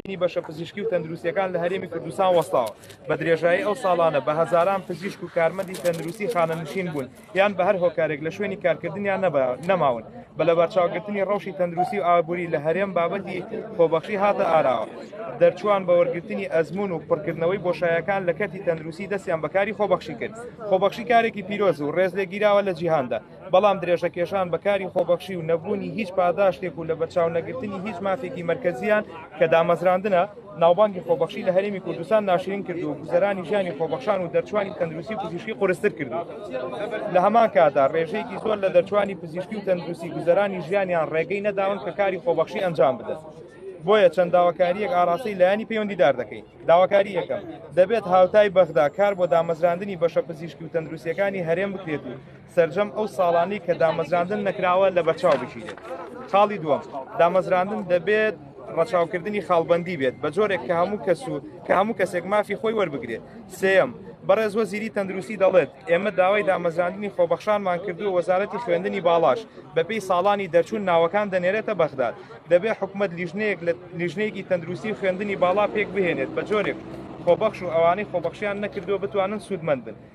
بەرهەمهێنانی بەشە پزیشکی و تەندروستیەکان لە هەرێمی کوردستان وەستاوە بە درێژایی ئەو ساڵانە بە هەزاران پزیشک و کارمەندی تەندروستی خانەنشین بوون یان بە هەر هۆکارێک لە شوێنی کارکردنیان نەماون بە لە بەرچاوگرتنی ڕەوشی تەندروستی و ئابووری لە هەرێم بابەتی خۆبەخشی هاتە ئاراوە دەرچوان بە وەرگرتنی ئەزمون و پڕکردنەوەی بۆشایەکان لە کەرتی تەندروستی دەستیان بەکاری خۆبەخشی کرد خۆبەخشی کارێکی پیرۆز و ڕێز لێگیراوە لە جیهاندا بەڵام درێژەکێشان بە کاری خۆبەخشی و نەبوونی هیچ پاداشتێک و لە بەرچاو نەگرتنی هیچ مافێکی مرکزیان کە دامەزراندنە ناوبانگی خۆبەخشی لە هەرێمی کوردستان ناشرین کرد و گوزەرانی ژیانی خۆبەخشان و دەرچوانی تەندروستی پزیشکی قرستر کرد لە هەمان کادا ڕێژەیەکی زۆر لە دەرچوانی پزیشکی و تەندروستی گوزەرانی ژیانیان ڕێگەی نەداون کە کاری خۆبەخشی ئەنجام بدەن. بۆیە چەند داواکاریەک ئاراسی لایانی پەیوەندیدار دەکەین داواکاری یەکەم دەبێت هاوتای بەغدا کار بۆ دامەزراندنی بەشە پزیشکی و تەندروسیەکانی هەرێم بکرێت و سەرجەم ئەو ساڵانەی کە دامەزراندن نەکراوە لە بەرچاو بگیرێت خاڵی دووەم دامەزراندن دەبێت ڕەچاوکردنی خاڵبندی بێت بە جۆرێک کە هەموو کەس و کە هەموو کەسێک مافی خۆی وەربگرێت سم بەڕێز وەزیری تەندروستی دەڵێت ئێمە داوای دامەزراندنی خۆبەخشانمان کردو وەزارەتی خوێندنی باڵاش بەپی ساڵانی دەرچوون ناوەکان دەنێرێتە بەغداد دەبێت حکومت لیژنەیەک لە لیژنەیەکی تەندروستی خوێندنی باڵا پێک بهێنێت بە جۆرێک خۆبەخش و ئەوانەی خۆبەخشیان نەکردو بتوانن سوودمەند بن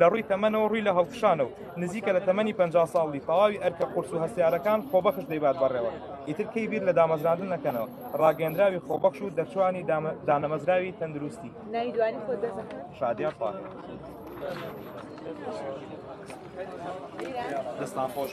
لە ڕووی تەمەنەوە ڕووی لە هەڵکشانە و نزیکە لە تەمەنی پەنجا ساڵ بی تەواوی ئەرکە قورس و هەستیارەکان خۆبەخش دەیبات بەڕێوە ئیتر کەی بیر لە دامەزراندن نەکەنەوە ڕاگەندراوی خۆبەخش و دەرچوانی دانەمەزراوی تەندروستی شادیان پا دەستان خۆش